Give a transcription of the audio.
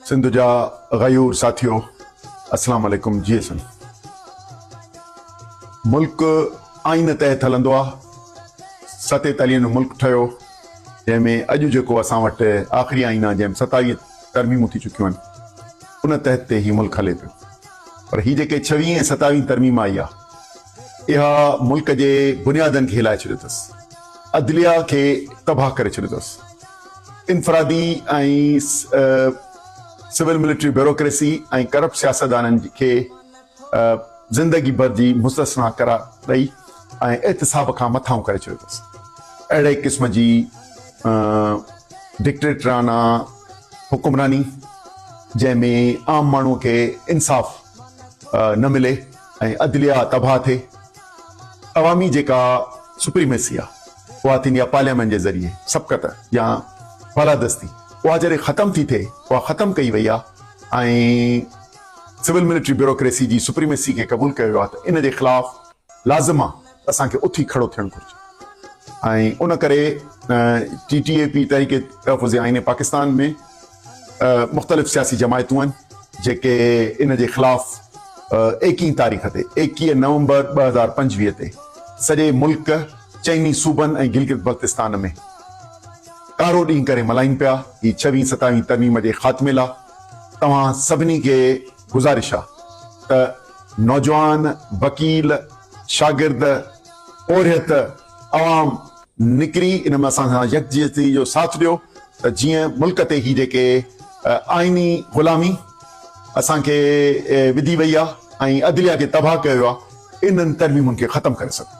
سنڌ جا غيور ساٿيو اسلام عليڪم جي سنڌ ملڪ آئين تحت هلندو آ ستي تلين جو ملڪ ٺهيو جنهن ۾ اڄ جيڪو اسان وٽ آخري آئين آ جنهن ۾ ستائيهه ترميمون ٿي چڪيون آهن ان تحت تي هي ملڪ هلي پيو پر هي جيڪي ڇويهين ۽ ستاويهين ترميم آئي آ اها ملڪ جي بنيادن کي هلائي ڇڏيو تس عدليه کي تباهه ڪري ڇڏيو تس. انفرادي ۽ سول ملٽري بيوروڪريسي ۽ ڪرپٽ سياستدانن کي زندگي ڀر جي مستثنيٰ قرار ڏئي ۽ احتساب کان مٿانهون ڪري ڇڏيو اٿس. اهڙي قسم جي ڊڪٽيٽرانه حڪمراني جنهن ۾ عام ماڻهو کي انصاف نه ملي ۽ عدليه تباهه ٿئي، عوامي جيڪا سپريميسي آ اها ٿيندي آ پارليامينٽ جي ذريعي سبقت يا بالادستي اها جڏهن ختم ٿي ٿئي اها ختم ڪئي وئي آ ۽ سول ملٽري بيوروڪريسي جي سپريميسي کي قبول ڪيو ويو آ ته ان جي خلاف لازم آ ته اسان کي اٿي کڙو ٿيڻ گهرجي ۽ ان ڪري ٽي ٽي اي پي تحريڪ تحفظ آئين پاڪستان ۾ مختلف سياسي جماعتون آهن جيڪي ان جي خلاف ايڪيهين تاريخ تي، ايڪيهه نومبر ٻه هزار پنجويهه، تي سڄي ملڪ، چئني صوبن ۽ گلگت بلتستان ۾ ڪارو ڏينهن ڪري ملهائين پيا. هي ڇوهين ستاوهين ترميم جي خاتمي لا توهان سڀني کي گذارش آ ته نوجوان، وڪيل، شاگرد، پورهيت، عوام، نڪري ان ۾ اسان سان يڪجهتي جو ساٿ ڏيو ته جيئن ملڪ تي هي جيڪي آئيني غلامي اسان کي وڌي وئي آهي ۽ عدليه کي تباهه ڪيو ويو آهي انهن ترميمن کي ختم ڪري سگهون.